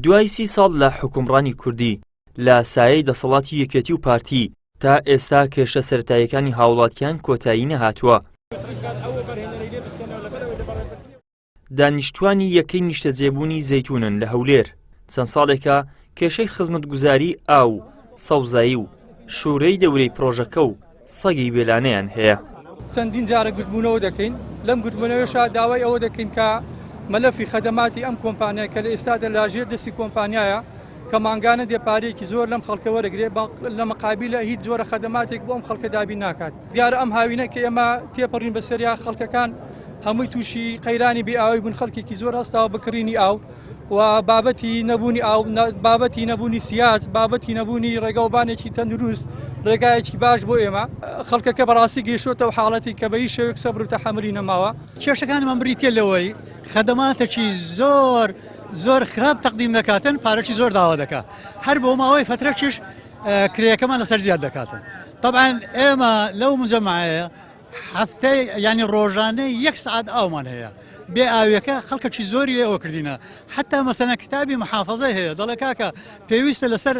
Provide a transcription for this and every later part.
دوای سی ساڵ لە حکومڕانی کوردی لە سایەی دەسەڵاتی یەکێتی و پارتی تا ئێستا کێشە سەرتایەکانی هاوڵاتیان کۆتایی نەهاتووە دانیشتوانی یەکەی نیشتەجێبوونی زەیتونن لە هەولێر چەند ساڵێکە کێشەی خزمەتگوزاری ئاو سەوزایی و شوورەی دەورەی پرۆژەکە و سەگی بێلانەیان هەیە. چەندین جارە گردبوونەوە دەکەین، لەم گردبوونەوەشا داوای ئەوە دەکەین کە مەلەفی خەدەماتی ئەم کۆمپانیای کە لە ئێستادا لاژێر دەستی کۆمپانیایە کە مانگانە دێ پارەیەکی زۆر لەم خەڵکە وەرەگرێ بە لە مقابیلە هیچ جۆرە خەدەماتێک بۆ ئەم خەڵکە دابین ناکات دیارە ئەم هاوینە کە ئێمە تێپەڕین بەسەریا خەڵکەکان هەمووی تووشی قەیرانی بێ ئاوی بوون خەڵکێکی زۆر هەستاوە بکڕینی ئاو و بابەتی نەبوونی ئاو، بابەتی نەبوونی سیاج، بابەتی نەبوونی ڕێگەوبانێکی تەندروست، ڕێگایەکی باش بۆ ئێمە. خەڵکەکە بەڕاستی گەیشتووەتەوە حاڵەتێک کە بەهیچ شێوەیەک سەبر و تەحەمولی نەماوە. کێشەکانمان بریتییە لەوەی خەدەماتێکی زۆر زۆر خراپ تەقدیم دەکاتن، پارەکی زۆر داوا دەکات، هەر بۆ ماوەی فەترەکیش کرێیەکەمان لەسەر زیاد دەکاتن. تەبعەن ئێمە لەو موجەمەعەیە هەفتەی یانی ڕۆژانە یەک سعات ئاومان هەیە بێ ئاوێکە خەڵکەکی زۆری لێ ئەوکردینە حتا مەسەنە کتابی محافظی هەیە دەڵێ کاکە پێویستە لەسەر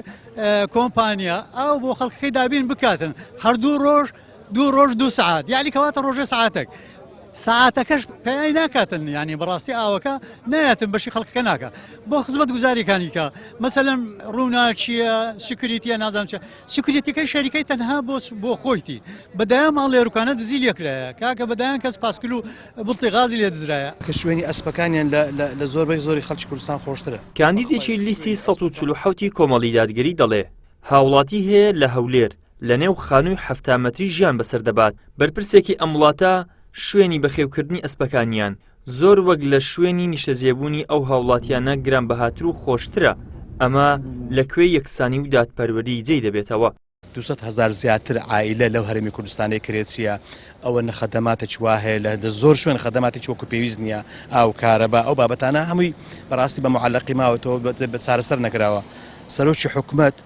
کۆمپانیا ئاو بۆ خەڵکی دابین بکاتن هەردوو ڕۆژ دوو ڕۆژ دو سعات یعنی کەواتە ڕۆژە سعاتێک ساعتەکەش پێی ناکاتن ینی بەڕاستی ئاوەکە نایەتن بەشی خەڵکەکە ناکە بۆ خزمەت گوزاریەکانیکە مەسەلم ڕووناچیە سکریتە نازانچە سکرتیەکەی شەریکەی تەنها بۆ بۆ خۆیتی بەدایان ماڵ لێرکانە دزی لێکرایە کاکە بەدایان کەس پاسکل و بڵتی غازی لێ دزرایە کە شوێنی ئەسپەکانیان لە زۆر بەی زۆری خەڵکی کوردستان خۆشترە کاندیدێکی لیستی ١٤٧ ی کۆمەڵی دادگەری دەڵێ هاوڵاتی هەیە لە هەولێر لە نێو خانووی حەفتا مەتری ژیان بەسەر دەبات بەرپرسێکی ئەم وڵاتە شوێنی بەخێوکردنی ئەسپەکانیان زۆر وەک لە شوێنی نیشتەجێبوونی ئەو هاوڵاتیانە گرانبەهاتر و خۆشترە، ئەمە لە کوێی یەکسانی و دادپەروەری جێی دەبێتەوە؟ دوو سەد هەزار زیاتر عائیلە لەو هەرێمی کوردستانەی کرێچییە، ئەوە نە خەدەماتێکی وا هەیە، لە زۆر شوێن خەدەماتێکی وەکو پێویست نییە، ئاو، کارەبا، ئەو بابەتانە هەمووی بەڕاستی بە معەلەقی ماوەتەوە بە چارەسەر نەکراوە. سەرۆکی حکومەت،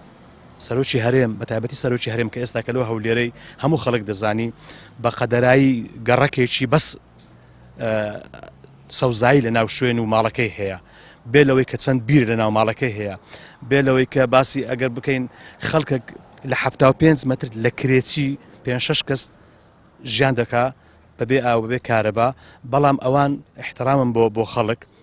سەرۆکی هەرێم، بە تایبەتی سەرۆکی هەرێم کە ئێستاکە لەو هەولێرەی هەموو خەڵک دەزانی بە قەدەرایی گەڕەکێکی بەس، سەوزایی لە ناو شوێن و ماڵەکەی هەیە بێ لەوەی کە چەند بیر لە ناو ماڵەکەی هەیە بێ لەوەی کە باسی ئەگەر بکەین خەڵکە لە ه پێنج متر لە کرێچی پێ شش کەس ژیان دەکا بەبێ ئاوبێ کارەبا بەڵام ئەوان احترامم بۆ بۆ خەڵک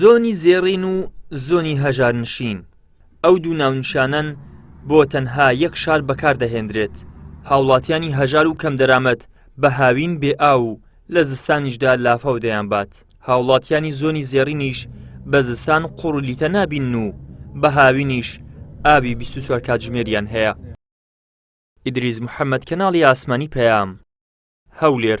زۆنی زێڕین و زۆنی هەژارنشین، ئەو دوو ناونیشانەن بۆ تەنها یەک شار بەکاردەهێندرێت، هاوڵاتیانی هەژار و کەم دەرامەت بە هاوین بێ ئاو و لە زستانیشدا لافاو دەیانبات، هاوڵاتیانی زۆنی زێڕینیش بە زستان قوڕ و لیتە نابینن و بە هاوینیش ئاوی بیست و چوار کاتژمێریان هەیە. ئیدریس محەمەد، کەناڵی ئاسمانی پەیام، هەولێر.